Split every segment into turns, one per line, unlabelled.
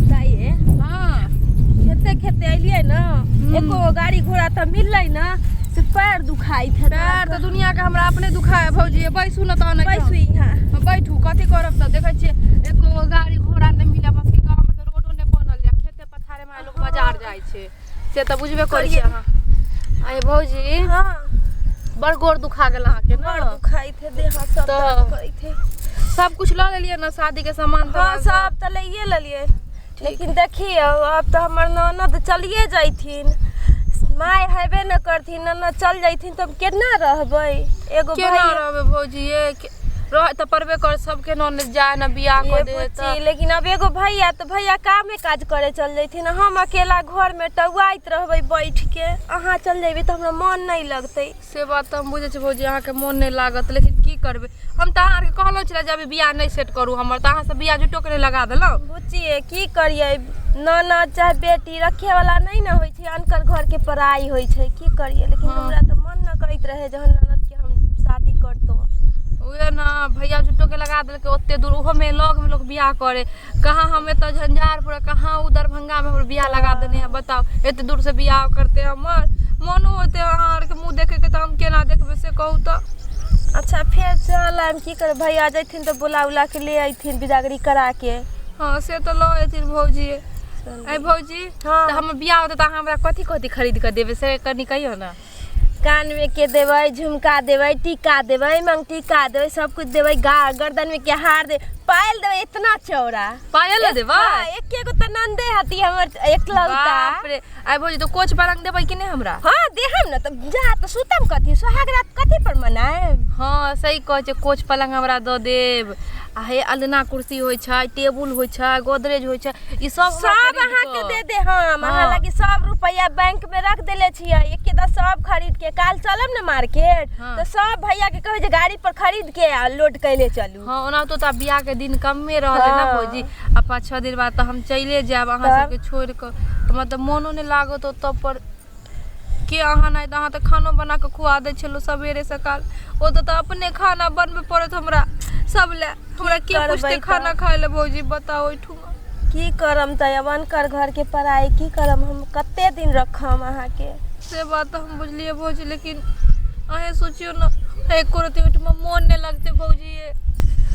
ताइए हाँ खेते खेते अलिए ना एको गो गाड़ी घोड़ा तो मिलले ना से पैर दुखाई थे पैर तो दुनिया के हमरा अपने दुखा है भौजी ये बैसू ना तहन बैसू यहाँ हम बैठू कथी करब तऽ देखै छियै एको गो गाड़ी घोड़ा नहि मिले बस के गाँव में तऽ रोडो नहि बनल यऽ खेते पथारे में लोग बाजार जाइ छै से तऽ बुझबे करै छी करियै। अहाँ अरे भौजी हाँ बड़ गोर दुखा गेल अहाँके बड़ ने दुखाइत है देह हाथ सब तऽ- दर्द करैत है सब कुछ लऽ लेलियै ने शादी के सामान हाँ तमान सब तऽ लैये लेलियै लेकिन देखियौ आब तऽ हमर ननद चलिए जैथिन माय हेबे न करथिन ननद चल जैथिन तऽ हम केना रहबै एगो केना भाई रहबै भौजी ये के- रह तऽ पड़बे कर सबके न जाय न बियाह ये कर दे बुच्ची तऽ लेकिन अब एगो भैया तो भैया कामे काज करे चल जैथिन हम अकेला घर में टौआइत रहबे बैठ के अहाँ चल जेबे तो हमरा मन नहीं लगते से बात तऽ हम बुझै छी भौजी अहाँके मोन नहि लागत लेकिन की करबै हम तऽ अहाँके कहलहुँ छलै जे अभी बियाह नहि सेट करू हमर तऽ अहाँसभ बियाह जुटोके नहि लगा देलहुँ बुच्ची ये की करिए ननद चाहे बेटी रखे वाला नहीं ना होय अनकर घर के पढ़ाई होइ छै की करिए लेकिन हाँ। हमरा तो मन न करैत रहे जहन ननद के हम शादी करतो उहे ना भैया झुट्टो के लगा देलकै ओते दूर ओहो में लग में लोग बियाह करे कहाँ हम एतऽ झंझारपुर आ कहाँ उ दरभंगा में हमर बियाह लगा देने है बताओ एते दूर से बियाह करते हमर मनो होते अहाँ आर के मुंह देखे के तऽ हम केना देखबै से कहू तऽ अच्छा फेर चल आइम की कर भैया जैथिन तो बुला उला के ले अयथिन बिदागरी करा के हाँ से तऽ लऽ अयथिन भौजी चल। आइ भौजी हाँ। तऽ हमर बियाह होतै तऽ अहाँ हमरा कथी कथी खरीद कऽ देबै से कनि कहियौ ने कान में के देवे झुमका देवे टीका देवे मंग टीका देवे सब कुछ देवे गा गर्दन में के हार दे पायल देवे इतना चौड़ा पायल ने देबै हाँ, एक एगो तो नंदे हती हमर एकलौता बाप रे आइ भौजी तो कोच बरंग देबै कि नहि हमरा हाँ देहम न तब जा तो सुतम कथी सुहाग रात कथी पर मनाएब हँ सही कहै छै कोच पलंग हमरा दऽ देब आ हे अलना कुर्सी होइ छै टेबुल होइ छै गोदरेज होइ छै ई सब हमरा सब खरीद अहाँ के कऽ- दे दे हम अहाँ हाँ। लगी सब रुपया बैंक में रख देले छियै एक दा सब खरीद के काल चलब ने मार्केट हाँ। तो सब भैया के कहे जे गाड़ी पर खरीद के आ लोड कैले चलू हाँ ओना तो तब बियाह के दिन कमे रहले ना हाँ। भौजी आ पाँच छः दिन बाद तो हम चले जाब अहाँ तब? सबके छोड़ कऽ तो मतलब मोनो नहि लागत ओतऽ पर के अहाँ नहि अहाँ तऽ खानो बनाकऽ खुआ दै छलहुँ सबेरे सकाल ओ तऽ अपने खाना बनबऽ पड़त हमरा सब लए हमरा के करबै पुछतै तऽ? खाना खाय लए भौजी बताओ ओहिठुमा की करम तऽ अब अनकर घरके पढ़ाइ की करम हम कते दिन रखम अहाँके से बात तऽ हम बुझलियै भौजी लेकिन अहें सोचियौ ने एको रति ओहिठमा मोन नहि लगतै भौजी ये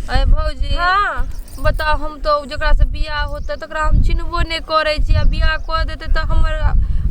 अरे भौजी हाँ बताउ हम तऽ जकरासँ बिआह होतै तकरा हम चिन्हबो नहि करै छी आ बिआह कऽ देतै तऽ हमर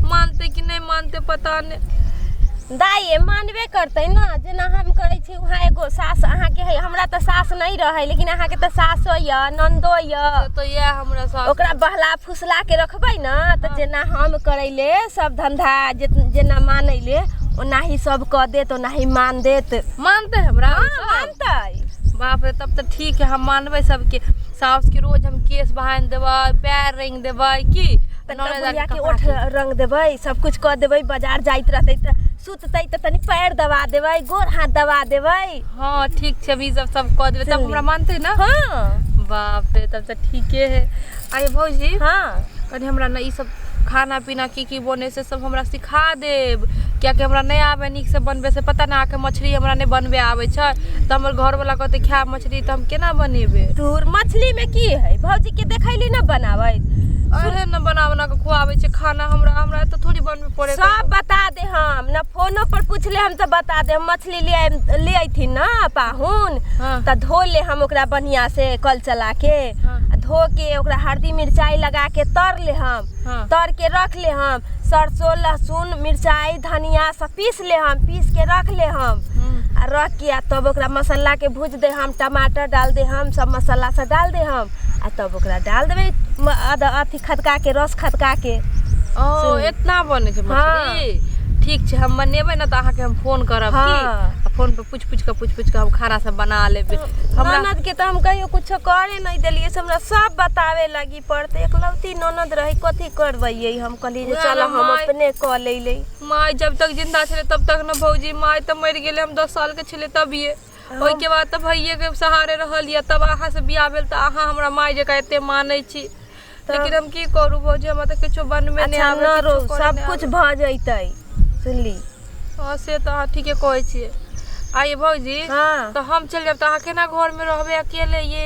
मानतै कि नहि मानतै पता नहि दाइए मानबे करतै ने जेना हम करै छी उहाँ एगो सास अहाँके है हमरा तऽ सास नहि रहै लेकिन अहाँके तऽ सासो यऽ नन्दो यऽ तऽ इएह हमरा सास ओकरा बहला फुसला के रखबै ने तऽ जेना हम करैले सब धंधा जे जेना मानैले ओनाही सब कऽ देत ओनाही मान देत मानतै हमरा हाँ, मानतै बाप रे तब तऽ ठीक है हम मानबै सबके साउस के रोज हम केस बहान देबै पैर रंग देबै की बुढ़िया के ओठ रंग देबै सब कुछ कऽ देबै बाजार जाइत रहतै तऽ सुततै तऽ तनी पैर दबा देबै गोर हाथ दबा देबै हाँ ठीक छै हम ई सब सब कऽ देबै तब हमरा मानतै ना हाँ बाप रे तब तऽ ठीके है अरे भौजी हाँ कनी हमरा ना ई सब खाना पीना की की बने से सब हमरा सिखा देब कियाकि हमरा नहि आबे नीक से बनबे से पता ना के मछली हमरा नहीं बनबे आबे छै तो हमर घर वाला कहते खाए मछली तो हम केना बनेबे तोर मछली में की है भौजी के देखैली ना बनावे अरे न बना बना के खुआबे छै खाना हमरा हमरा तो थोड़ी बनबे पड़े सब बता दे हम ना फोनो पर पूछले हम तो बता दे हम मछली ले आइम- ले अथी ना पाहुन हाँ। तो धो ले हम ओकरा बढ़िया से कल चला के हाँ। आ धो के ओकरा हल्दी मिरचाई लगा के तर ले हम हाँ। तर के रख ले हम सरसों लहसुन मिर्चाई धनिया सब पीस ले हम पीस के रख ले हम हम्म। आ रख के आ तब ओकरा मसाला के भूज दे हम टमाटर डाल दे हम सब मसाला सब डाल दे हम आ तब ओकरा डाल देबे म- अद- अथी खदका के रस खदका के ओ सुन। इतना बने छै मछली ठीक छै हम बनेबै ने तऽ अहाँके हम फोन करब हाँ। की आ फोन पर पूछ पूछ कऽ पूछ पूछ कऽ हम खाना सब बना लेबै हमरा ननद के तो हम कहियो कुछ करे नहीं दिलिये से हमरा सब बतावे लगी पर तो एकलौती ननद रही कथी करबैये हम कहली जे उएह चल ने हम माय। अपने कऽ लेले माय जब तक जिंदा छले तब तक न भौजी माय तऽ मरि गेले हम दस साल के छले तभिए ओहिके बाद तऽ भैये के सहारे रहल यऽ तब अहाँ से बियाह भेल तऽ अहाँ हमरा माय जकाँ एते मानै छी लेकिन हम की करू भौजी हमरा तऽ किछो बनबे नहि अच्छा आबे न रो किछो करऽ सब नहि कुछ आबे। भऽ जैतै सुनली हँ से तऽ अहाँ ठीके कहै छियै आ ये भौजी हाँ। तऽ हम चलि जायब तऽ अहाँ केना घर में रहबै अकेले ये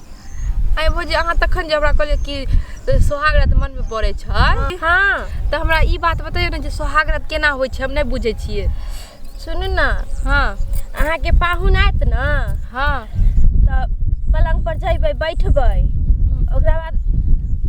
आइ भौजी अहाँ तखन जे हमरा कहलियै कि सोहाग रात मन में पड़े छै हाँ तो हमरा ई बात बताइयो ना जे सोहाग रात केना होय छै हम नहीं बुझे छियै सुनू ना हाँ अहाँ के पाहुन आयत ना हाँ तो पलंग पर जैबे बैठबे ओकरा बाद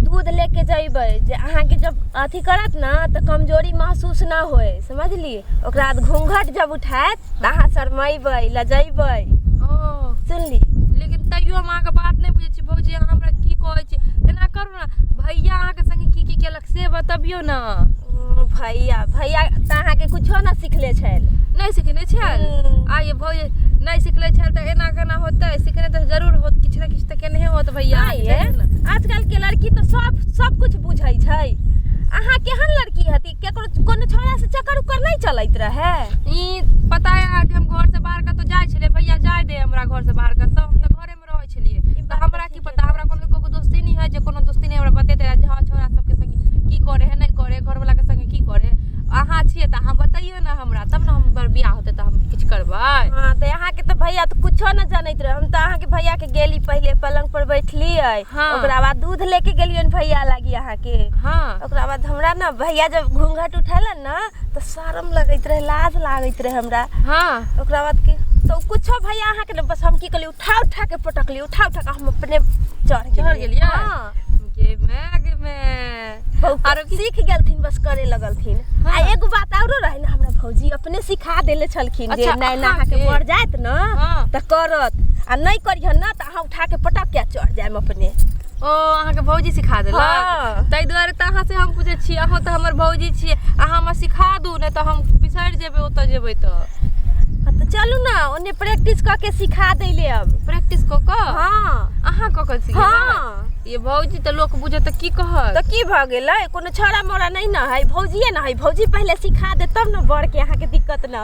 दूध लेके जैबे जे अहाँ के जब अथी करत ना तो कमजोरी महसूस ना होय समझली ओकरा बाद घूंघट जब उठायत तऽ अहाँ शरमेबै लजेबै ओ सुनली लेकिन तैयो हम अहाँके बात नहि बुझै छी भौजी अहाँ हमरा की कहै छी एना करू ने भैया अहाँके संगे की की केलक से बतबियौ ने ओ, भैया भैया तऽ अहाँके कुछो ने सिखले छल नहि सिखने छल हम्म। आइए भौजी नहि सिखले छल तऽ एना केना होतै सिखने तऽ जरूर होत किछु ने किछु तऽ केनहे होत भैया नहि अहाँके, ये जरूर ने। आजकल के लड़की तऽ सब सब कुछ बुझै छै अहाँ केहन लड़की हती केकरो कोनो छोड़ा से चक्कर उक्कर नहीं चलत रहे ई पता है आज हम घर से बाहर कतौ जाय छलिए भैया जाय दे हमरा घर से बाहर कतौ हम तऽ घरे में रहै छलिए तऽ हमरा की पता हमरा कोनो कोनो दोस्ती नहीं है जे कोनो दोस्ती नहीं हमरा बतेते रहे जे हाँ छोरा सबके संगे की करे है नहीं करे घर वाला के संगे की करे अहाँ छिए तऽ अहाँ बताइयो ना हमरा तब ना हमर बियाह होते तऽ हम किछु करबै हाँ तो यहाँ के तो भैया तो कुछो न जानत रहे हम तो अहाँ के भैया के गेली पहले पलंग पर बैठलिए हाँ। ओकरा बाद दूध लेके गेलियन भैया लागी अहाँ के हाँ ओकरा बाद हमरा ना भैया जब घूंघट उठेला ना तो शर्म लगैत रहे लाज लागैत रहे हमरा हाँ ओकरा बाद के तो कुछो भैया अहाँ के ना बस हम की कहली उठा उठा के पटकली उठा उठा के हम अपने चढ़ चढ़ गेलियै? हाँ गे मैं गे मैं बहुत आरो की- सीख गेलथिन बस करे लगलथिन हाँ। आ एगो बात औरो रहे ना हमरा भौजी अपने सिखा देले छलखिन जे अच्छा, नैना अहाँ अहाँ के के? पड़ जायत ना हाँ। त करत आ नहीं करिहन ना त अहाँ उठा के पटक के चढ़ जायम अपने ओ अहाँके भौजी सिखा हँ। देलक ताहि दुआरे तऽ अहाँ से हम पूछै छी अहाँ तऽ हमर भौजी छियै अहाँ हमरा सिखा दू नहि तऽ हम बिसरि जेबै ओतऽ जेबै तऽ हाँ, तऽ चलू ने ओने प्रैक्टिस कऽ के सिखा दैले अब प्रैक्टिस कऽ कऽ हाँ अहाँ कऽ कऽ सिखेबै हाँ ये भौजी तऽ लोक बुझत तऽ की कहत तऽ की भऽ गेलै कोनो छौड़ा मोड़ा नहि ने है भौजिए ने है भौजी पहिले सिखा दे तब ने बड़के अहाँके दिक्कत न